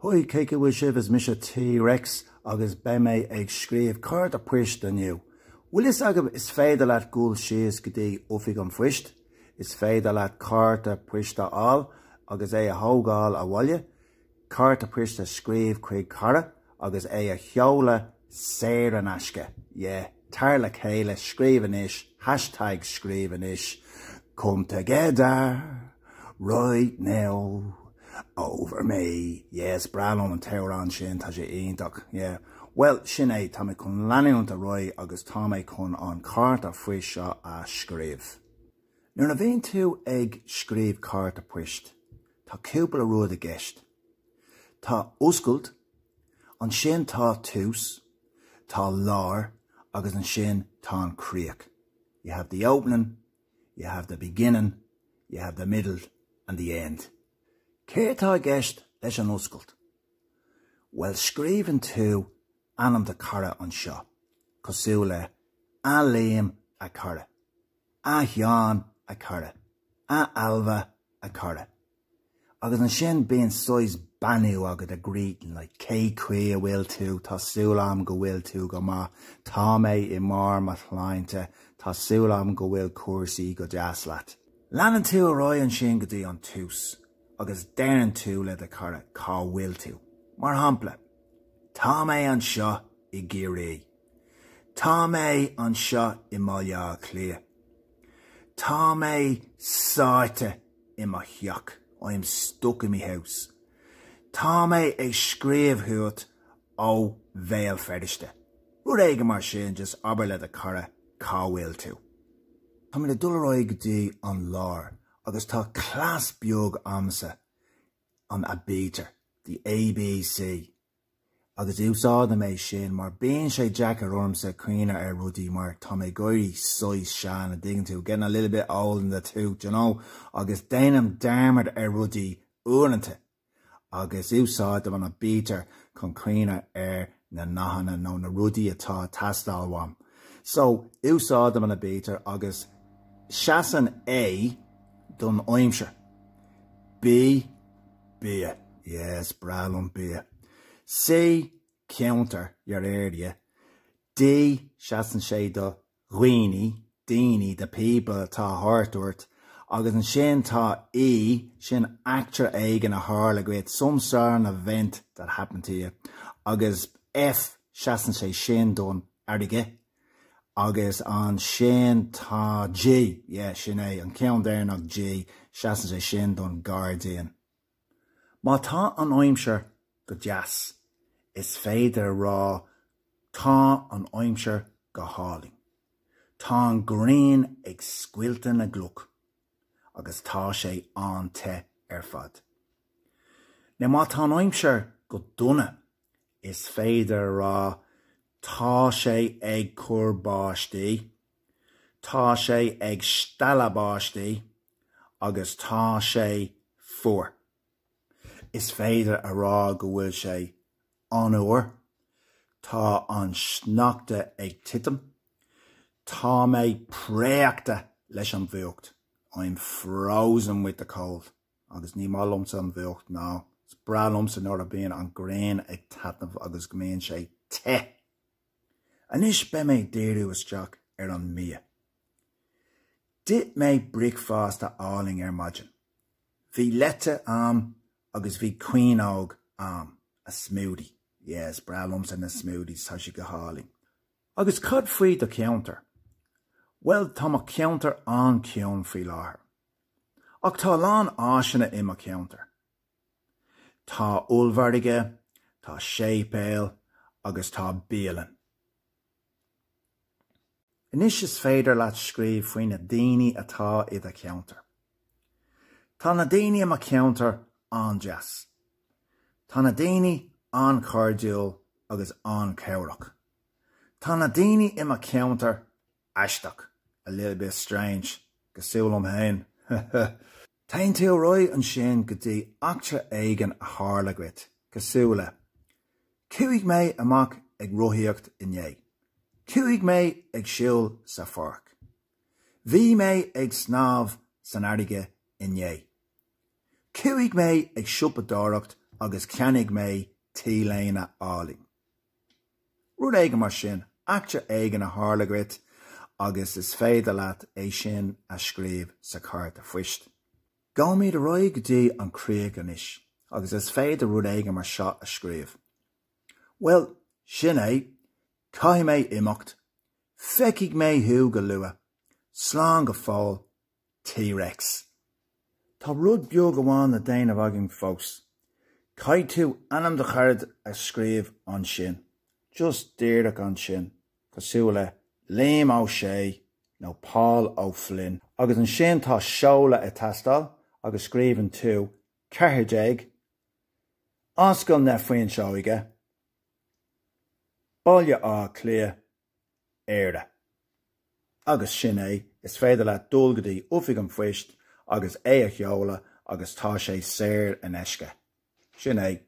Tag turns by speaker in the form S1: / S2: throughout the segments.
S1: Haigh, cé chaoi a bhfuil sibh, is mise T. Rex agus beidh mé ag scríobh cárta poist inniu. Bhfuil fhios agaibh is féidir leat gul síos go dtí Oifig an Phoist, is féidir leat cárta poist a fháil agus é a thógáil abhaile, cárta poist a scríobh chuig cara agus é a sheoladh saor in aisce, yeah. Tar le chéile, scríobh anois, hashtag scríobh anois, come together right now over me, yeah, is breá liom an t-amhrán sin, tá sé iontach, yeah. Bhuel, sin é, tá mé chun leanúint ar aghaidh agus tá mé chun an cárta phoist seo a scríobh. Nuair a bhíonn tú ag scríobh cárta poist, tá cúpla rud i gceist. Tá oscailt, ansin tá tús. Tá lár agus ansin tá an críoch, you have the opening, you have the beginning, you have the middle and the end. Cé atá i gceist leis an oscailt? Bhuel scríobhann tú ainm do cara anseo, cosúil le A Liam a chara, A Sheán a chara, A Ailbhe a chara. Agus ansin bíonn saghas beannú agat a greeting like cé chaoi a bhfuil tú, tá súil agam go bhfuil tú go maith, tá mé i mbarr mo shláinte, tá súil agam go bhfuil cúrsaí go deas leat. Leanann tú ar aghaidh ansin go dtí an tús agus deireann tú le do chara cá bhfuil tú. Mar shampla, Tá mé anseo i gCiarraí. Tá mé anseo i mBaile Átha Cliath. Tá mé sáite i mo theach, I am stuck in my house. Tá mé ag scríobh chugat ó Bhéal Feirste. Rud éigin mar sin, just abair le do chara cá bhfuil tú. Tá mé le dul ar aghaidh go dtí an lár agus tá cleas beag agamsa, an aibítir, the ABC. agus úsáidim é sin mar bíonn sé deacair ormsa cuimhneamh ar rudaí mar tá mé ag éirí saghas sean a' dtuigeann tú, getting a little bit old in the tooth you know, agus déanaim dearmad ar rudaí uaireanta agus úsáidim an aibítir chun cuimhneamh ar na nathanna nó na rudaí atá a' teastáil uaim. So úsáidim an aibítir agus seasann A don aimsir. B. Bia. Yes, breá liom bia. C, Ceantar the area. D, Seasann sé do dhaoine, daoine, the people, atá thart ort. Agus ansin tá E, sin eachtra éigin a tharla dhuit, some sort of event that happened to you. Agus F, Seasann sé sin don fharraige. Agus ansin tá D. Yeah, sin é, an ceann deireanach D, seasann sé sin don gháirdín. Má tá an aimsir go deas, is féidir a rá Tá an aimsir go hálainn. Tá an ghrian ag scoilteadh na gcloch agus tá sé an-te ar fad. Now má tá an aimsir go dona, Is féidir a rá, Tá sé ag cur báistí, Tá sé ag stealladh báistí agus Tá sé fuar. Is féidir a rá go bhfuil sé an-fhuar, Tá an sneachta ag titim, Tá mé préachta leis an bhfuacht, I'm frozen with the cold. Agus ní maith liomsa an bhfuacht, nó is breá liomsa nuair a bíonn an ghrian ag taitneamh agus go mbíonn sé te! Anois beidh mé ag díriú isteach ar an mbia. D'ith mé bricfeasta álainn ar maidin. Bhí leite a'am agus bhí caoineog a'am, a smoothie. Yeah, is breá liomsa na smoothies, tá siad go hálainn. Agus cad faoi do cheantar? Bhuel, tá mo cheantar an-chiúin faoi láthair. Ach tá a lán áiseanna i mo cheantar. Tá ollmhargaidh, tá séipéal agus tá bialann. Anois is féidir leat scríobh faoi na daoine atá i do cheantar. Tá na daoine i mo cheantar an-deas. Tá na daoine an-chairdiúil agus an-chabhrach. Tá na daoine i mo cheantar Aisteach, a little bit strange, cosúil liom féin, huh, huh. Téann tú ar aghaidh ansin go dtí eachtra éigin a tharla dhuit, cosúil le, Chuaigh mé amach ag rothaíocht inné. Chuaigh mé ag siúl sa pháirc. Bhí mé ag snámh san fharraige inné. Chuaigh mé ag siopadóireacht agus cheannaigh mé t-léine álainn. Rud éigin mar sin. Eachtra éigin a tharla dhuit agus is féidir leat é sin a scríobh sa chárta phoist. Gabhaimid ar aghaidh go dtí an chríoch anois agus is féidir rud éigin mar seo a scríobh, Bhuel, sin é, caithfidh mé imeacht. Feicfidh mé thú go luath. Slán go fóill. T-Rex. Tá rud beag amháin le déanamh againn fós. Caithfidh tú ainm do charad a scríobh ansin, just díreach ansin, cosúil le Liam Ó Sé nó Pól Ó Floinn. Agus ansin tá seoladh ag teastáil agus scríobhann tú 14 Ascaill na Fuinseoige, Baile Átha Cliath, Éire. Agus sin é, is féidir leat dul go dtí Oifig an Phoist agus é a sheoladh agus tá sé saor in aisce. Sin é.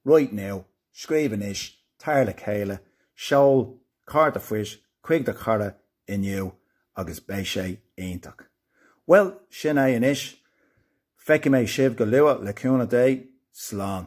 S1: Write now, Scríobh anois, Tar le chéile, Seol cárta phoist chuig do chara inniu agus beidh sé iontach. Bhuel, sin é anois. Feicfidh mé sibh go luath, le cúnamh Dé. Slán.